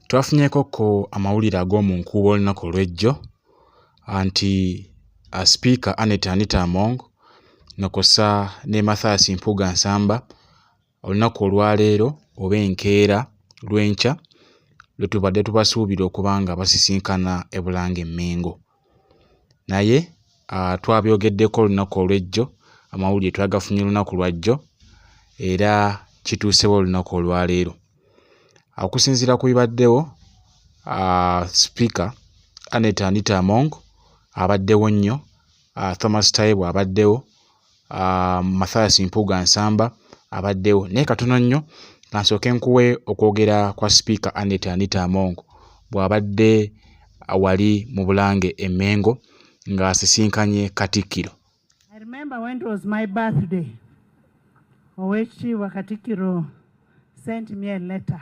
Twafunyeko ko amawulire ag'omu nkuubo olunaku olw'ejjo nti uh, sipiika Annet Anita Among nokosa ne Mathias Mpuuga Nsamba olunaku olwaleero oba enkeera lwenkya lwetubadde tubasuubira okuba nga basisinkana e Bulange Mmengo. naye uh, twabyogeddeko olunaku olwejjo amawulire twagafunye olunaku lwajjo era kituusewo olunaku olwaleero okusinziira ku bibaddewo uh, sipiika anet anita among abaddewo nnyo uh, thomas taibu abaddewo uh, mathias mpuuga nsamba abaddewo naye katono nnyo kansooke nkuwe okwogera kwa sipiika anet anita among bw'abadde wali mu bulange emengo ng'asisinkanye katikkiro owekitiibwa katikkiro sent me a letter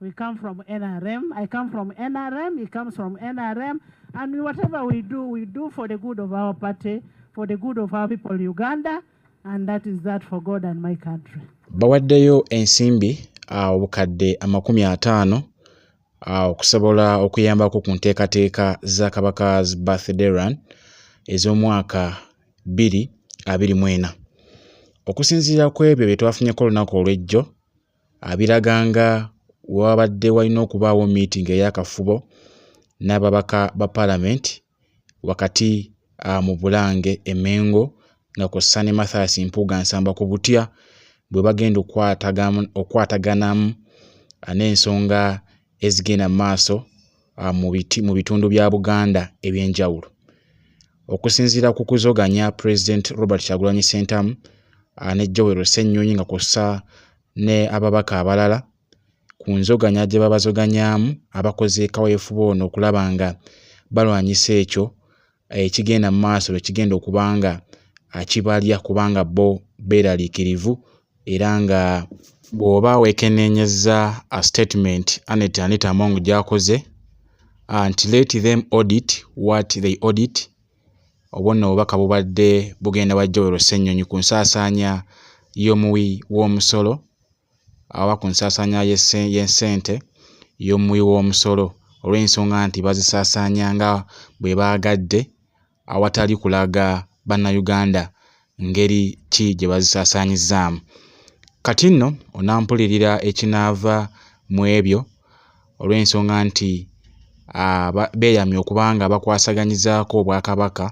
We come from NRM. I come from NRM. He comes from NRM. And whatever we do, we do for the good of our party, for the good of our people, Uganda. And that is that for God and my country. Bawaddeyo ensimbi ah, obukadde amakumi ataano ah, okusobola okuyambako ku nteekateeka za Kabaka's Birthday Run ez'omwaka bbiri abiri mwena. Okusinziira ku ebyo bye twafunyeko olunaku olw'ejjo, abiraga nga wewabadde walina okubaawo meeting eyakafubo n'ababaka ba parliament wakati uh, mu bulange emengo nga ku sane mathas mpuuga nsamba ku butya bwe bagenda okwataganamu n'ensonga ezigenda mu maaso uh, mu bitundu bya Buganda eby'enjawulo. Okusinziira ku kuzoganya Pulezidenti Robert Kyagulanyi Ssentamu uh, ne Joel Ssennyonyi nga kw'ossa ne ababaka abalala ku nzoganya gye babazoganyaamu abakoze kaweefube ono okulaba nga balwanyisa ekyo ekigenda mu maaso lwe kigenda okuba nga akibalya kubanga bo beeraliikirivu era nga bw'oba weekenneenyezza a statement anet anita among gy'akoze nti let them audit what they audit obwo nno obubaka bubadde bugenda wa joel ssennyonyi ku nsaasaanya y'omuwi w'omusolo ababa ku nsaasaanya y'essente y'omuwi w'omusolo olw'ensonga nti bazisaasaanya nga bwe baagadde awatali kulaga Bannayuganda ngeri ki gye bazisaasaanyizzaamu. Kati nno onampulirira ekinaava mu ebyo olw'ensonga nti ah, beeyamye okuba nga bakwasaganyizaako Obwakabaka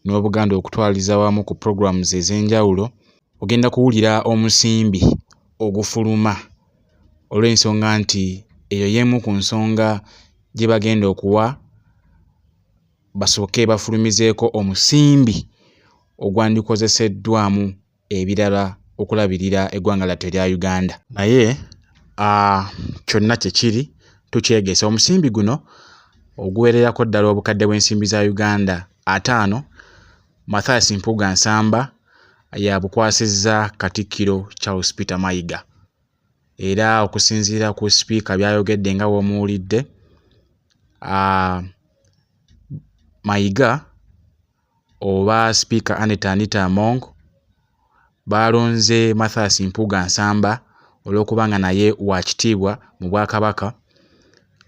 n'Obuganda okutwaliza wamu ku programs ez'enjawulo ogenda kuwulira omusimbi ogufuluma olw'ensonga nti eyo y'emu ku nsonga gye bagenda okuwa basooke bafulumizeeko omusimbi ogwandikozeseddwamu ebirala okulabirira eggwanga lyattu erya Uganda naye kyonna kye kiri tukyegese omusimbi guno oguwererako ddala obukadde bw'ensimbi za Uganda ataano Mathias Mpuuga Nsamba yabukwasizza Katikkiro Charles Peter Mayiga era okusinziira ku sipiika byayogedde nga womuwulidde Mayiga oba sipiika Anita Anita Among baalonze Mathias Mpuuga Nsamba olw'okuba nga naye wa kitiibwa mu Bwakabaka.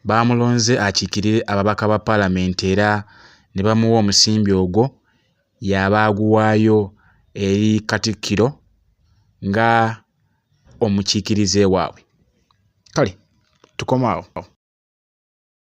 Baamulonze akiikirire ababaka ba Palamenti era ne bamuwa omusimbi ogwo y'aba aguwaayo eri Katikkiro nga omukiikirize waabwe. Kale tukoma awo.